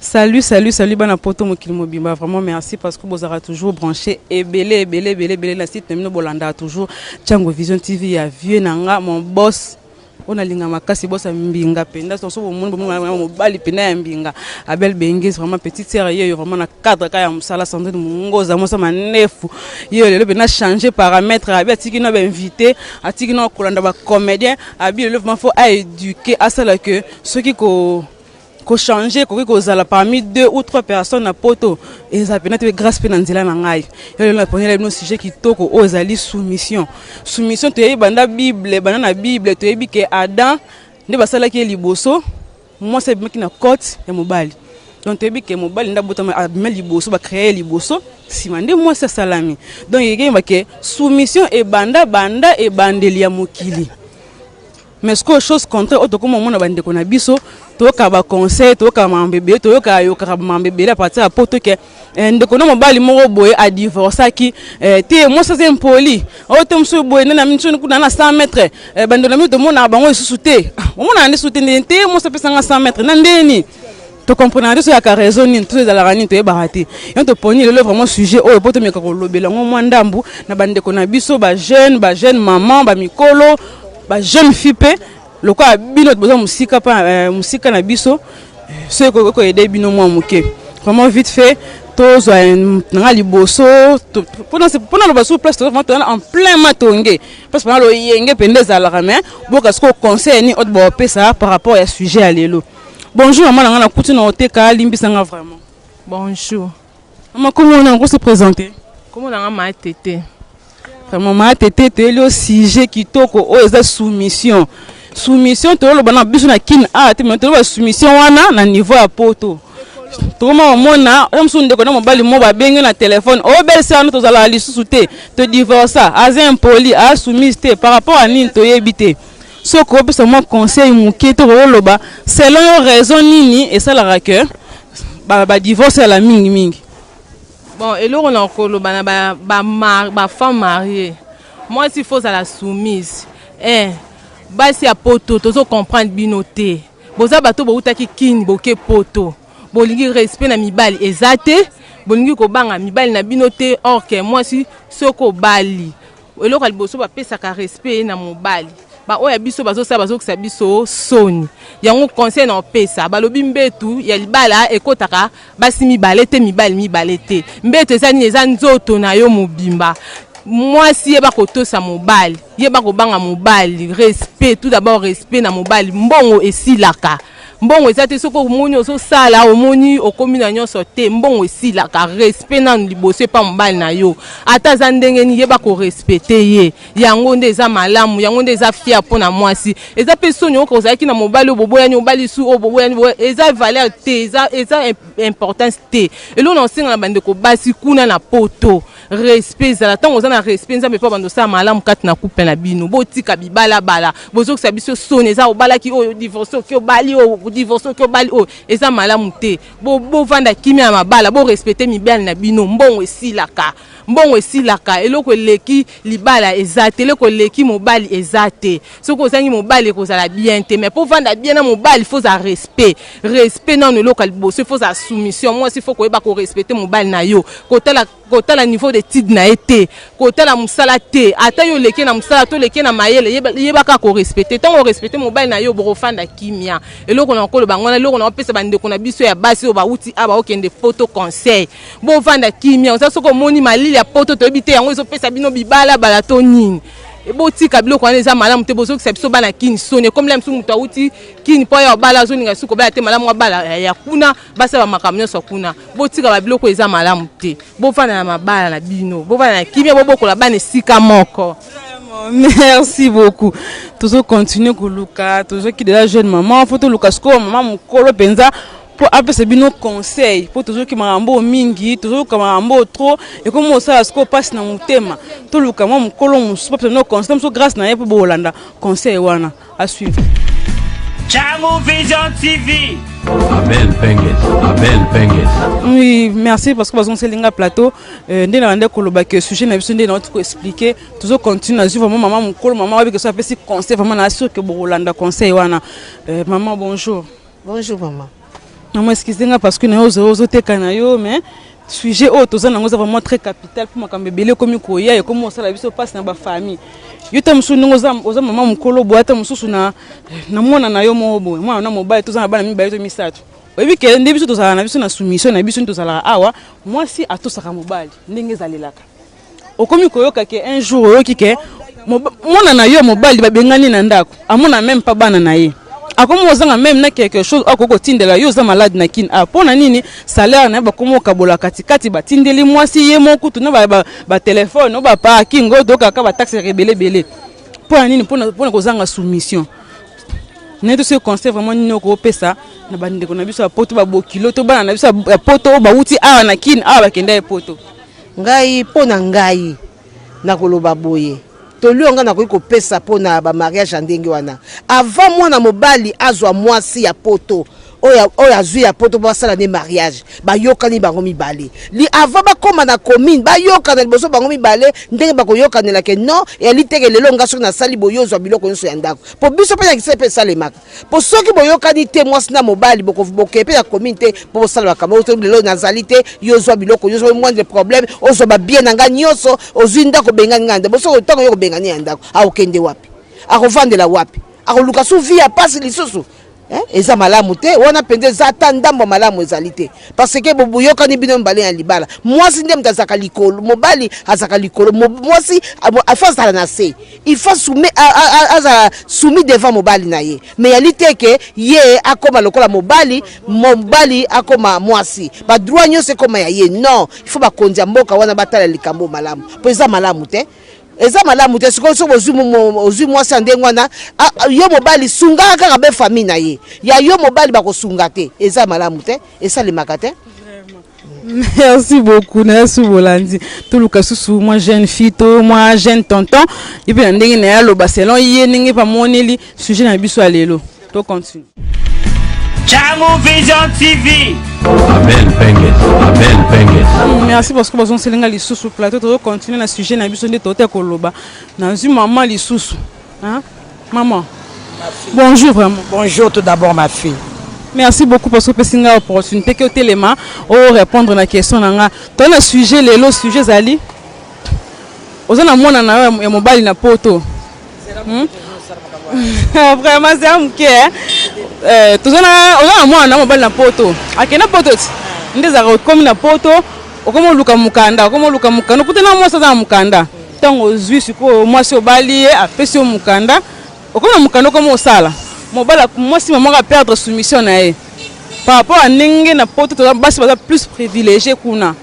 Salut, salut, salut bana poto mokili mobimba. Vraiment merci parce que bozara toujours branché et belé, belé, belé, belé la site même bolanda toujours Chango Vision TV ya vieux nanga mon boss. On a linga makasi boss ya mbinga penda son so bomono bomono mobali penda ya mbinga Abel Bengues vraiment petite sœur yeyo vraiment na cadre ka ya musala Sandrine Mungoza mosa manefu yeyo lelo penda changer paramètre abi atiki na ba invité atiki na kolanda ba comédien abi lelo vraiment faut à éduquer asala que soki ko ko changer ekoki kozala parmi deux ou trois personnes na poto eza pena te grâce mpe na nzela na ngai yo lelo naponela bino sujet kitoko oyo ezali soumission soumission toyebi banda bible banda na bible toyebi ke adam nde basalaki ye liboso mwasi abimaki na cote ya mobali donc toyebi ke mobali nde abotama abima liboso bacreye liboso nsima nde mwasi asalami donc ekeyeba ke soumission ebanda banda ebandeli ya mokili mais sikoyo chose contraire oyo tokoma omona bandeko na biso toyoka baconseil toyoka mambo ebele toyoka ayokaka mambo ebele apartir ya poto ke eh, ndeko na mobali moko boye adivorcaki eh, te mwasi aza impoli oyo oh, te mosusu boye nani amini soni kuna na 100 mètre eh, bandeko na biso tomonaka bango lisusu te ah, omonaka nde susu te ndeni te mwasi apesanga 100 mètre na ndeni to comprenaka te soyaka raison nini to ezalaka nini toyebaka te yango toponi lelo vraiment sujet oyo mpo tomeka kolobela yango mwa ndambu na bandeko na biso bajeune bajeune maman bamikolo bajeune fille mpe lokola bino boza mosika mpa eh, mosika na biso eh, soki ekoki koyede bino mwa moke vraiment vite fait tozwa nanga liboso mpona loba sur place tozaa tozana en plein matonge parce mpona loyenge mpenza ezalaka mais boka sikoyo conseil nini oyo bopesa par rapport ya sujet ya lelo Bonjour maman na nga na kuti na oteka limbisa nga vraiment. Bonjour. Maman comment on a se présenter? Comment na nga ma tete. Vraiment ma tete te le sujet kitoko oyo eza soumission. Soumission to loba na biso na kin a te mais to loba soumission wana na niveau ya poto. tokoma komona oyo mosusu ndeko na mobali mo babenge na telefone obelisa wana tozalaka lisusu te todivorsa aza impoli asoumise te par rapport ya nini toyebi te soki okopesa mwa conseil moke to kokoloba selon yo raison nini esalaka ke badivorce yala mingi mingi bon eloko na koloba na bafemme marie mwasi ifo ozala soumise eh, basi ya poto tozo comprendre bino te boza bato boutaki kini boke poto bolingi respect na mibali eza te bolingi kobanga mibali na bino te orke mwasi soki obali eloko ya liboso bapesaka respect na mobali baoyo ya biso bazosala bazokisa biso soni yango conseil na opesa balobi mbetu ya libala ekotaka basi mibale te mibali mibale te mbetu eza nini eza nzoto na yo mobimba mwasi yeba kotosa mobali yeba kobanga mobali respect tout d'abord respect na mobali mbongo esilaka mbongo eza te soki omoni ozosala omoni okomi na nyonso te mbongo esilaka respect nanu liboso epa mobali na yo ata aza ndenge nini yeba korespecte ye yango nde eza malamu yango nde eza fiere mpo na mwasi eza mpe soni oyoka ozalaki na mobali oyo boboyani obali su oyo boboyani eza valeur te eza, eza importance te eloko na kosenga na bandeko basi kuna na poto respect ezala ntango oza na respect nzambe mpo abanda osala malamu kati na couple na bino botika bibalabala bozokisa biso soni eza obalaki oyo divorce oki obali oyo divorce oki obali oyo eza malamu te bovanda kimia ya mabala borespecte mibali na bino mbongo esilaka mbongo esilaka eloko eleki libala eza te eloko eleki mobali eza te soki ozangi mobali ekozala bien te mais mpo vanda bien na mobali faut ozala respect respect nano eloko ya liboso faut ozala soumission mwasi faut koyeba korespecte mobali na yo kotala kotala niveau d'étude na ye te kotala mosala te ata yo oleki na mosala to oleki na mayele yeba kaka korespecte ntango orespecte mobali na yo bokofanda kimia eloko na koloba yango wana eloko na kopesa bandeko na biso ya basi oyo bauti a baokende poto conseil bovanda kimia oza soki omoni malili ya poto toyebi te yango ezopesa bino bibala bala to nini Eh, botika biloko wana eza malamu te bozokisa biso bana kini soni ekomela biso moto awuti kini mpo ya obala azolinga suka obala te malamu abala eh, ya kuna basala makambo nyonso ya kuna botika babiloko eza malamu te bofanda na mabala na bino bofanda na kimia bobokola bana esika moko merci beaucoup tozokontinue koluka tozoki deja jeune maman fo toluka sikoyo mama mokolo mpenza mpo apesa bino conseil mpo tozoki makambo oyo mingi tozoyoka makambo oyo trop ekomi osala sikoyo mpasi na motema toluka mwa mokolo mosusu bapesa bino conseil mosusu grâce na ye mpo bokolanda conseil wana asuivre Chamu Vision TV. Abel Penges, Abel Penges. Oui, merci parce que bazon selinga plateau euh, nde na bande koloba que sujet na biso nde na ko expliquer tozo continuer azui vraiment maman mukolo maman wabi que ça pesi conseil vraiment na sûr que bokolanda conseil wana euh, maman bonjour Bonjour maman. Maman excusez nga parce que nayo ozo ozo teka na yo mais sujet oyo toza nango eza vraiment très capital mpo makambo ebele ekomi koya ekomi kosala biso mpasi na bafamille yo ta mosusu ndenge oza mama mokolo boye ata mosusu na mwana na yo moko boye mwana na mobali toza na bana mibale to misato oyebi ke nde biso tozalaka na biso na soumission na biso nde tozalaka awa mwasi atosaka mobali ndenge ezalelaka okomi koyoka ke un jour oyoki ke mwana na yo mobali babengani na ndako amona meme pa bana na ye akomi ozanga meme na quelque chose akoki kotindela yo oza malade na kin a mpo na nini salaire na ye bakomi okabola katikati batindeli mwasi ye moko kutu na batelefone ba, ba, ba baparking oyo tokaka bataxe ya ebele ebele mpo na nini mpo na kozanga soumission naye tosi conseil vraiment nini okopesa na bandeko na biso ya poto babokilo to bana na biso ya poto oyo bauti awa na kin awa bakenda ye poto Ngai mpo na ngai nakoloba boye toli oyo ngai nakoki kopesa mpo na bamariage ya ndenge wana avant mwana mobali azwa mwasi ya poto oyo azwi ya poto mpo basala nde mariage bayokani bango mibale li avant bakóma na commune bayokana liboso bango mibale ndenge bakoyokanela ke non eyali teke lelo ngai soki nasali boye ozwa biloko nyonso ya ndako mpo biso mpe na kisai mpe esalemaka po soki boyokani te mwasi na mobali bokokee mpe na commune te mpo bosala makambo oyo lelo nazali te yo ozwa biloko nyonso oyo moindre problème ozwa babie na ngai nyonso ozwi ndako obengani ngai na ndako bosoki ntango yo kobengani ya ndako akokende wapi akovandela wapi akoluka su vi ya mpasi lisusu eh, eza malamu te wana mpenza eza ata ndambo malamu ezali te Parce que boyokani bino mibale na libala. Mwasi nde moto azalaka likolo, mobali azalaka likolo, mwasi il faut azala na se. Il faut soumis azala soumis devant mobali na ye. Mais yali te ke ye akoma lokola mobali, mobali akoma mwasi. Ba droit nyonso ekoma ya ye. Non, il faut bakonzi ya mboka wana batala likambo malamu. Po eza malamu te. eza malamu te sikoyo soki ozwi ozwi mwasi ya ndenge wana yo mobali sungaka kaka be famille na ye ya yo mobali bakosunga te eza malamu te esalemaka te merci beaucoup na yesu bolandi toluka susu mwa jeune fille to mwa jeune tonton ye mpe na ndenge na ye aloba selon ye ndenge bamoneli sujet na biso ya lelo to continue Changu Vision TV. Abel Penges, Abel Penges. Mm, merci parce que bazon selinga lisusu plateau to continuer na sujet na biso nde tote koloba. Nazui maman lisusu. Hein? Maman. Bonjour vraiment. Bonjour tout d'abord ma fille. Merci beaucoup parce que pesi nga opportunité que telema o répondre na question na nga. To na sujet lelo sujet zali. Oza na mwana na yo ya mobali na poto. Hmm? vraiment zela moke eh. eh, toza na mwana na mobali na poto akende na poto ti nde ezalaka okomi na poto okomi oluka mokanda okomi oluka mokanda okuta na mwasi aza na mokanda ntango ozwi sikoyo mwasi obali ye apesi yo mokanda okomi na mokanda okomi osala mobala mwasi mamoko aperdre soumission na ye par rapport ya ndenge na poto basi baza plus privilégie kuna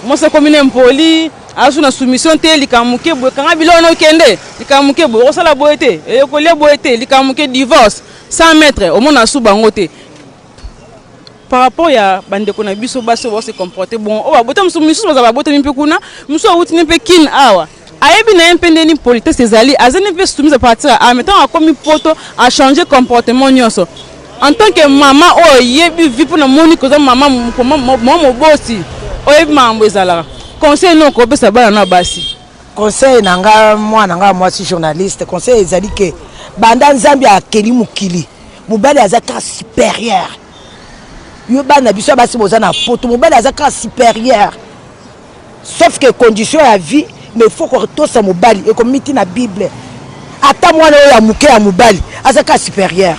mwasi akomi na impoli azu na soumission te likambo moke boye kanga biloko na okende likambo moke boye okosala boye te eye kolia boye te likambo moke divorce sans maître omona asu bango te par rapport ya bandeko na biso basi oyo base comporte bon oyo babota misusu baza babotami mpe kuna mosusu awuti ne mpe kine awa Ayebi na ye mpe ndenge nini politesse ezali, azali mpe soumise à partir ya awa, mais ntango akomi poto a changer comportement nyonso. En tant que mama oyo oyebi vie mpo namoni que oza mama mama moboti oyebi makambo ezalaka, conseil nini okopesa bana na basi? Conseil na nga mwana nga mwasi journaliste, conseil ezali que banda Nzambe akeli mokili mobali aza kaka superieur. Yo bana biso ya basi boza na poto, mobali aza kaka superieur. sauf que condition ya vie mais faut ko tosa mobali et comme miti na bible ata mwana oyo ya moke ya mobali aza ka supérieur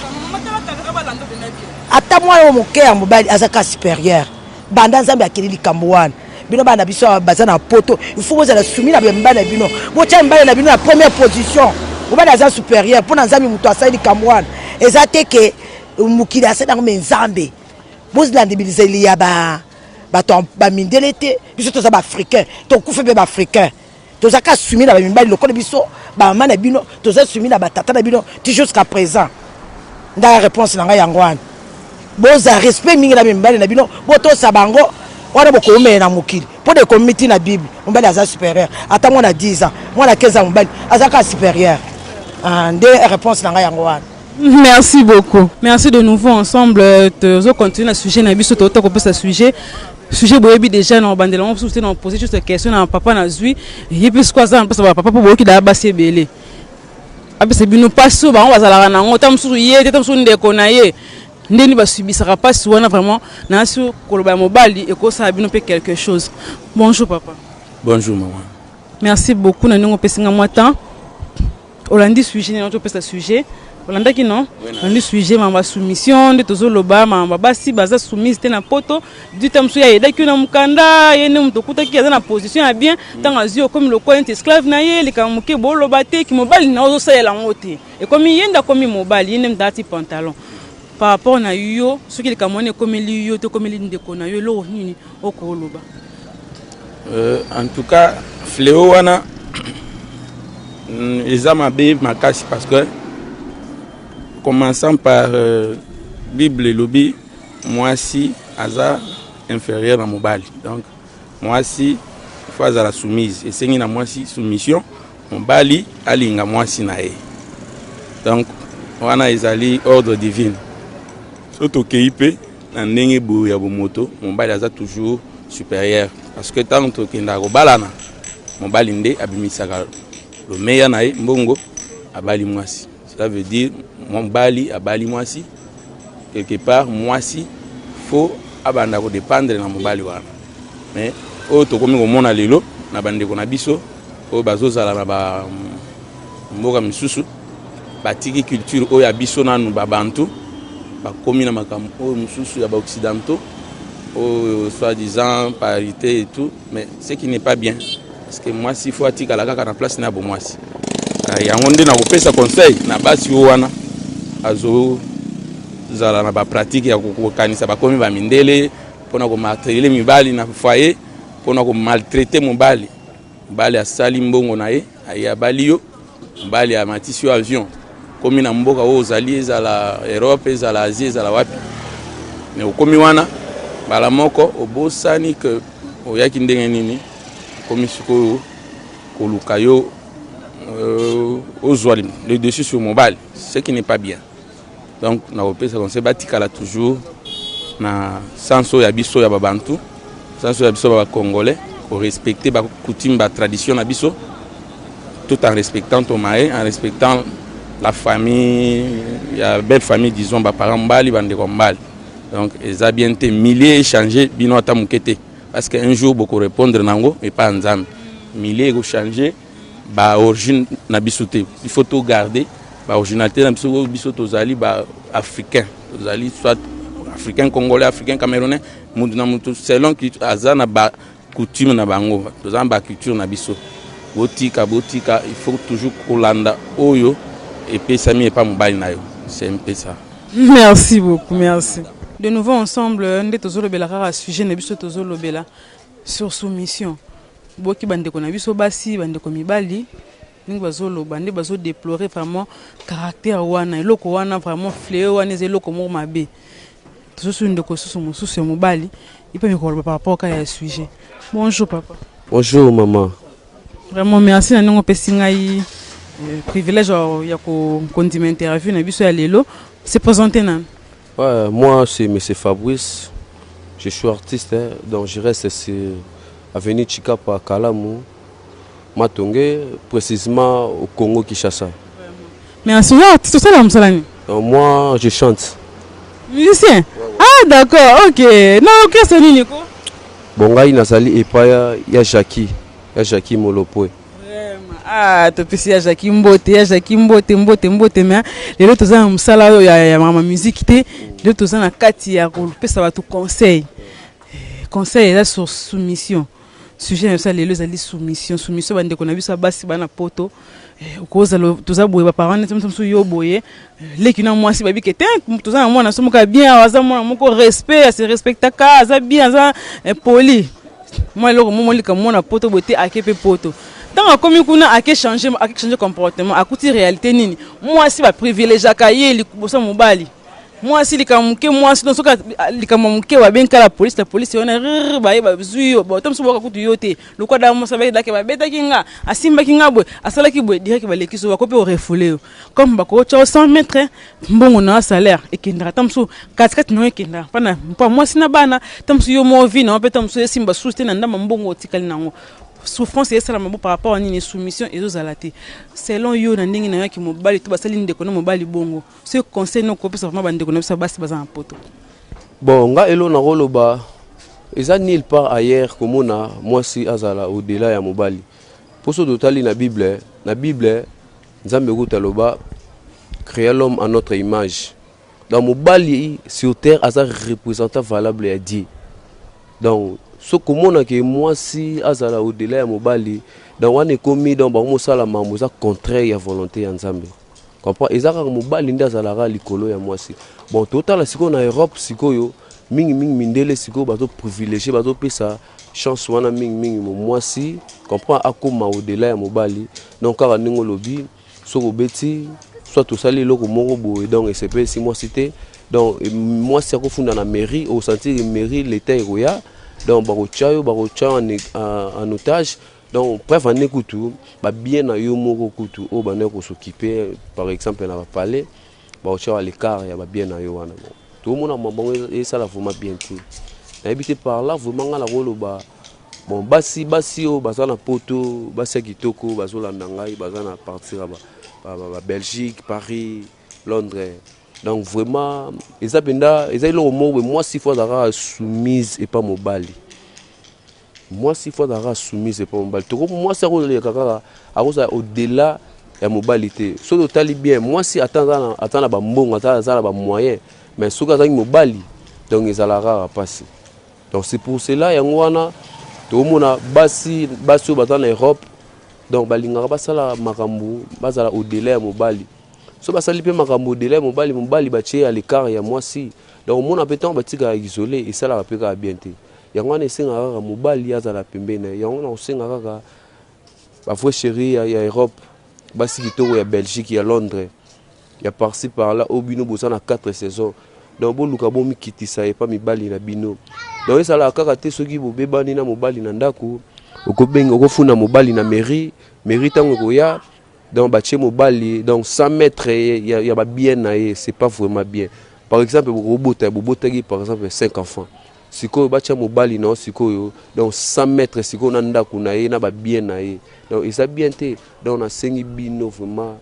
ata mwana oyo moke ya mobali aza ka supérieur banda nzambe akeli likambo wana bino bana biso baza na poto il faut bozala sumi na bamibali na bino botya mibali na bino na première position mobali aza supérieur mpo na nzambe moto asali likambo wana eza te ke mokili asali yango me nzambe bozala ndimilizeli ya ba bato bamindele te biso toza baafricain tokufe mpe baafricain toza ka sumi na bamibali lokola biso bamama na bino toza sumi na batata na bino ti jusqu'à présent ndaya réponse na ngai yango wana boza respect mingi na mibali na bino botosa bango wana bokoumele na mokili mpo na ekomi miti na bible mobali aza supérieur ata mwana 10 ans mwana 15 ans mobali aza ka supérieur ah, nde réponse na ngai yango wana Merci beaucoup. Merci de nouveau ensemble euh, tozo continuer na sujet na biso tokota kopesa sujet sujet boyebi déjà na obandela yango mosusu te na pose juste question na papa nazwi ye mpe sikoyo aza na mpesa bapapa mpo boyoki daya basi ebele apesa bino mpasi oyo bango bazalaka na yango ta mosusu ye te ta mosusu ndeko na ye ndeni basubisaka mpasi wana vraiment nasi koloba ya mobali ekosala bino mpe quelque chose bonjour papa bonjour maman merci beaucoup na ndenge opesi nga mwa temps olandi sujet nini topesa sujet olandaki no olandi sujet mama basoumission nde tozoloba mama babasi baza soumise te na poto dita mosusu ye ayedaki yo na mokanda ye nde moto okutaki aza na position ya bien ntango azwi okomi lokola neti esclave na ye likambo moke boloba te kimobali na ozosalela yango te ekomi ye nde akomi mobali ye nde moto alati pantalon par rapport na yo soki likambo wana ekomeli yo to ekomeli ndeko na yo eloko nini Oko loba. Euh, en tout cas, fléau wana mm, eza mabe makasi parce que commençant par euh, bible elobi mwasi aza inférieur na mobali donc mwasi fo azala soumise esengi na mwasi soumission mobali alinga mwasi na ye donc wana ezali ordre divine so tokei mpe na ndenge boye ya bomoto mobali aza toujours supérieur parce que ntango tokendaka kobalana mobali nde abimisaka lomeya na ye mbongo abali mwasi cela veut dire mobali abali mwasi quelque part mwasi fo abanda kodépendre na mobali wana mais oyo tokomi komona lelo na bandeko na biso oyo bazozala na ba mboka misusu batiki culture oyo ya biso nanu babantu bakomi na makambo oyo mosusu ya baoccidentaux oyo soit disant parité et tout mais ce qui n'est pas bien parce que mwasi fo atikala kaka na place na ya bomwasi ah, yango nde nakopesa conseil na basi oyo wana azozala na bapratike ya kokanisa bakomi bamindele mpo na komartelele mibali na foyer mpo na komaltraite mobali Mobali asali mbongo na ye, aye abali yo, mobali amatisi yo avion, komi na mboka oyo ozali, ezala Europe, ezala Asie, ezala wapi, me okomi wana mbala moko obosani ke oyaki ndenge nini, okomi sikoyo koluka yo euh, ozwa le dessus sur mobali, ce qui n'est pas bien. donc nakopesa conseil batikala toujours na sens oyo ya biso ya babantu sens oyo ya biso ba bacongolais korespecte bacoutume batradition na biso tout en respectant tomae en respectant la famille ya belle famille disons baparent mbali bandeko ya mbali donc eza bien te milieu echange bino ata moke te parce que un jour bokorépondre na yango epai ya nzambe milieu ekochange ba origine na biso te il faut to garder ba originalité na biso oyo biso tozali ba africain tozali soit africain congolais africain camerounais mutu na mutu selon aza na ba coutume na bango toza na ba culture na biso botika botika il faut toujours kolanda oyo epesami epa mobali na yo c'est mpe ça merci beaucoup merci de nouveau ensemble nde tozolobela kaka sujet na biso tozolobela sur soumission Boki ba ndeko na biso basi ba ndeko mibali ndenge bazo loba nde bazo deplorer vraiment caractère wana eloko wana vraiment fleo wana eza eloko moko mabe tozosu ndeko susu mosusu ya mobali ipe mikoloba par rapport ka ya sujet bonjour papa bonjour maman vraiment merci na ndenge opesi ngai euh, privilège ya kondima interview na biso ya lelo se présenter nanu Ouais, moi c'est Monsieur Fabrice, je suis artiste, hein, donc je reste sur avenue Chikapa Kalamu, Matonge, précisément au Congo Kinshasa. Mais en ce moment, tu te sens dans Moussalani Donc moi je chante. Musicien Ah, d'accord, ok. Non, ok, c'est Nico. Bon ngai nazali epai ya- ya Jackie, ya Jackie Molopwe. Vraiment. Ah, topesi ya Jackie mbote, ya Jackie mbote, mbote, mbote, mais lelo toza na musala oyo ya, ya mama musique te. Lelo toza na kati ya kopesa bato conseil. Eh, Conseil eza sur soumission. Sujet na biso ya lelo ezali soumission. Soumission bandeko na biso ya basi bana poto. Eh, okozala toza boye ba parents neti mosusu yo boye leki na mwasi bayebi ke te toza na mwana so moko ya bien awa aza mwana moko respect ase respectaka aza bien aza eh, poli mwa eloko mo molika mwana poto boye te ake mpe poto ntango akomi kuna ake change ake change comportement akuti réalité nini mwasi baprivilegiaka ye liboso ya mobali mwasi likambo moke mwasi no soki likambo moke babengaka la polisi la polisi wana rr baye bazwi yo bato mosusu boyoka kutu yo te lokola daka mosa bayedake babetaki nga asimbaki nga boye asalaki boye direke balekisi yo bakoki mpe orefule yo comme bakootya o 100 mètre mbongo na yo salaire ekendaka ntango mosusu katikati na yo ekendaka mpana mpo mwasi na bana ntango mosusu yo moko vi na yo mpe ntango mosusu esimba susu te na ndambo mbongo otikali na yango souffrance esalama bo par rapport à nini soumission ezozala te selon yo na ndenge na yo yaki mobali to basali ndeko na mobali bongo ce conseil noko kopesa vraiment bandeko na biso basi baza na poto bon nga elo nakoloba eza nil part ailleurs komona mwasi azala odela ya mobali mpo soki totali na bible na bible Nzambe kutu aloba crea l'homme en notre image donc mobali sur terre aza représentant valable ya die donc soki komona ke mwasi azala odela ya mobali donc wana ekomi donc bango mosala mambo eza contraire ya volonté ya nzambe comprend eza kaka mobali nde azalaka likolo ya mwasi bon totala sikoyo na europe sikoyo mingimingi mindele sikoyo bazoprivilégie bazopesa chance wana mingi mingi mo mwasi comprend akoma au delà ya mobali donc kaka ndenge olobi soki obeti soit tosali eloko moko boye donc esepelisi mwasi te donc mwasi akofunda na mairie osentir mairie leta ekoya donc bakotya yo bakotya yo en otage donc preuve ane kutu babien na yo moko kutu oyo bandaki kosokipe par exemple na bapalais Ba otia yo à l'ecart ya ba bien na yo wana bon. To mona makambo bango e sala vraiment bien te. Na yebi te par là vraiment nga na ko loba bon basi basi oyo baza na poto basi ya kitoko bazo landa ngai baza na partir ya ba Belgique, Paris, Londres donc vraiment eza penda eza eloko moko mwasi faut azalaka soumise epa mobali. Mwasi faut azalaka soumise epa mobali toko mwasi akoleka kaka akozala au-delà ya mobali te soki totali bien mwasi ata aza na bambongo ata aza na bamoyen mais soki azangi mobali donc ezalaka kaka mpasi donc c'est pour cela yango wana tokomona basi basi oyo baza na europe donc balingaka basala makambo bazala au-delà ya mobali so basali mpe makambo au-delà ya mobali mobali batie ya l'écart ya mwasi donc omona mpe ntango batikaka isole esalaka mpe kaka bien te Yango wana esengaka kaka mobali azala pembeni na ye. Yango na kosenga kaka ba vrai chéri ya, ya Europe, basi kitoko ya Belgique, ya Londres, ya parci par là, oyo bino boza na 4 saisons. Donc boluka bomikitisa epa mibali na bino. Donc esalaka kaka te soki bobebani na mobali na ndako, okobenga okofuna mobali na mairie, mairie ntango ekoya donc batie mobali donc sans maître ya, ya ba bien na ye, c'est pas vraiment bien. Par exemple bokobota bobotaki par exemple 5 enfants Sikoyo batia mobali na yo sikoyo donc sans maitre sikoyo na ndaku na ye na ba bien na ye donc eza bien te donc na sengi bino vraiment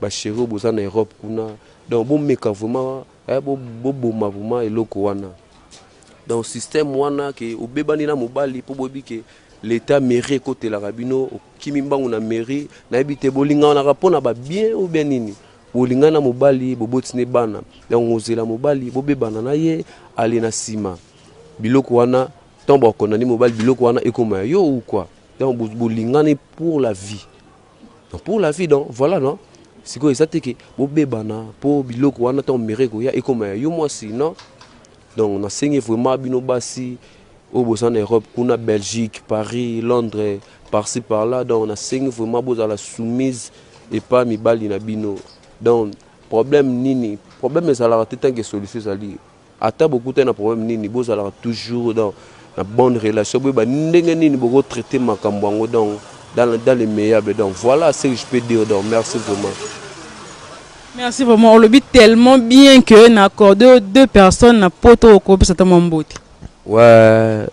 ba cheri oyo boza na Europe kuna donc bo meka vraiment eh, bo, bo boma vraiment eloko wana donc système wana ke obebani na mobali po boyebi ke l'etat mairie ekotelaka bino okimi mbangu na mairie nayebi te bolinganaka mpo na ba bien ou bien nini Olingani na mobali, boboti nde bana, yango zela mobali bobebana na ye ale na sima biloko wana ntango bakondani mobali biloko wana ekoma ya yo ou quoi donc bo- bolingani pour la vie donc pour la vie donc voilà non sikoyo eza te ke bobebana mpo biloko wana ntango mere ekoya ekoma ya yo mwasi non donc nasengi vraiment bino basi oyo boza na Europe kuna Belgique Paris Londres par ci par là donc nasengi vraiment bozala soumise epa mibali na bino donc problème nini problème ezalaka te tanke solution ezali ata bokutani na problème nini bozalaka toujours donc na bonne relation boyeba ndenge nini boko traiter makambo yango donc dans, le- dans le meillable donc voilà ce que je peux dire donc merci vraiment Merci vraiment. Olobi tellement bien que na accordé aux deux personnes na poto okopesa ta mwa mbote. Ouais,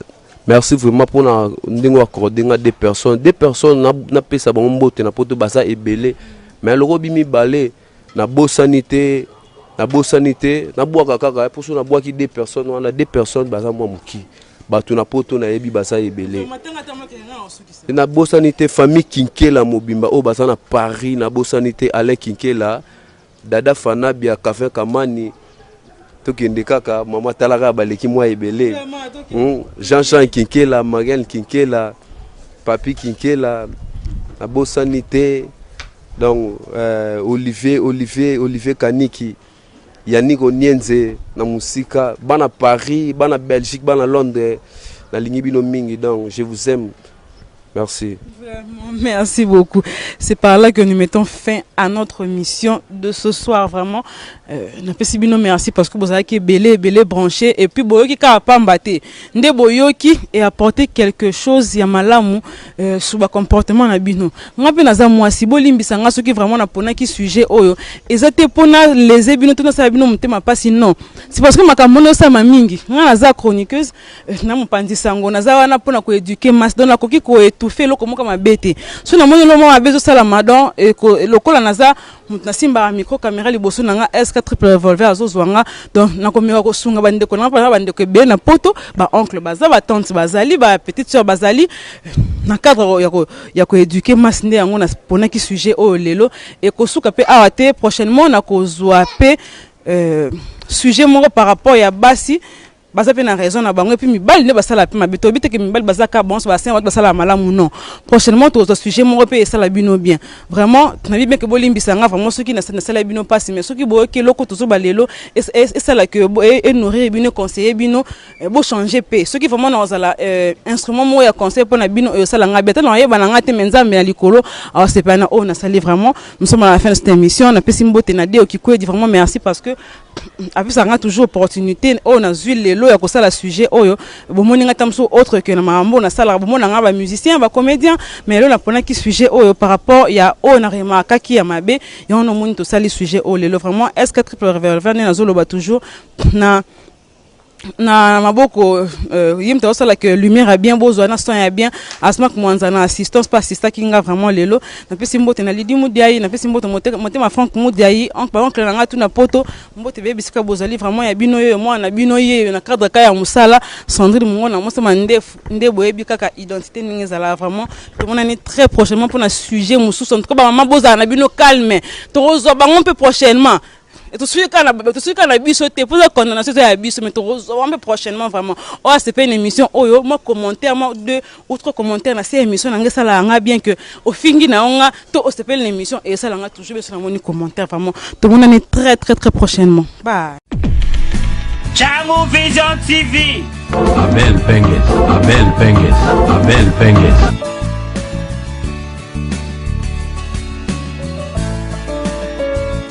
merci vraiment pour na ndenge wa accordé nga deux personnes. Deux personnes na na pesa bango mbote na poto baza ebele. Mais loko bimi balé na bosani te na bosani te na bwaka kaka pour so na bwaki deux personnes wana deux personnes baza mwa muki. Bato na poto na yebi baza ebele. Na bosani te famille Kinkela mobimba oyo baza na Paris na bosani te Alain Kinkela Dada fanabia cafin kamani tokende kaka mama tala kaka baleki mwa ebele hmm, jean jean kinkela mariane kinkela papi kinkela nabosani te donc euh, olivier olivier olivier kaniki yannick onienze na mosika bana paris bana belgique bana londres nalingi bino mingi donc je vous aime Merci. Vraiment, merci beaucoup. C'est par là que nous mettons fin à notre mission de ce soir. Vraiment, euh, Napesibino, merci parce que vous avez qui belé, belé branché. Et puis, Boyoki ka pas mbaté. Nde Boyoki et apporter quelque chose, ya malamu, euh, sous le comportement na bino. Nga pe naza moi, si bo limbi sanga, ceux qui vraiment na pona qui sujet oyo. Et ça te pona les ebino, tout na sa bino, mte ma pas non. C'est parce que ma kamono sa ma mingi. Nga naza chroniqueuse. Eh, na mopanzi sango naza wana mpona koeduke masse donc nakoki koetouffe eloko moko mabe te so namoni eloko moko mabe ezosalama donc lokola naza moto nasimbaka micro caméra liboso na nga sk triple revolver azozwa nga donc nakomeka kosunga bandeko na nga mpona bandeko ebele na poto baoncle baza batante bazali ba petite soeur bazali eh, na cadre ya koeduke masse nde yango naponaki sujet oyo lelo ekosuka mpe awa te prochainement nakozwa mpe euh, sujet moko par rapport ya basi baza mpe na raison na bango epuis mibali nde basala mpe mabe toyebi te ke mibali baza ka bonso basin bato basala malamu non prochainement tokozwa sujet moko mpe esala bino bien vraiment nayebi bien ke bolimbisa nga vraiment soki nasala bino mpasi mais soki boyoki eloko tozoba lelo esala ke enourrir bino conseiller bino eh, bochange mpe soki vraiment nakozala eh, instrument moko ya conseil mpo na bino oyo esala nga bien tana nayeba na nga te me nzambe na likolo awasepela na oyo nasali vraiment nous sommes à la fin de cette émission napesi mbote na deo kikwedi vraiment merci parce que apesa nga toujours opportunité oyo nazwi lelo ya kosala sujet oyo bomoni nga ta mosusu autre que na makambo nasalaka bomona nga bamusicien bacomédien mais lelo naponaki sujet oyo par rapport ya oyo na remarkaki ya mabe yango nomoni tosali sujet oyo lelo vraiment est ce que triple revolver nde nazoloba toujours na na maboko euh, ye moto azosala que lumière ya bien bozwa na son ya bien asmak mwanza na assistance mpe assistaki nga vraiment lelo napesi mbote na lidi mudiai napesi mbote motema frank mudiai baoncle na ngai tu na poto mbote beye bisika bozali vraiment ya bino yeyo mwana na bino yeyo na cadre ka ya mosala sandrine mongona mosama ndefu nde boyebi kaka identité ndenge ezalaka vraiment tomonani très prochainement mpo na sujet mosusu en tout cas bamama bozala na bino calme tokozwa bango mpe prochainement tosuki kaka na tosuki kaka na biso te mpo eza condamnation eza ya biso mais tokozwa mpe prochainement vraiment oyo asepe na émission oyo mwa commentaire mwa deux ou trois commentaire na se émission na ngai esalaka ngai bien que ofingi na yo nga to osepeli na émission esala ngai toujours biso namoni commentaire vraiment tomonani très très très prochainement bye Changu Vision TV. Abel Pengues, Abel Pengues, Abel Pengues.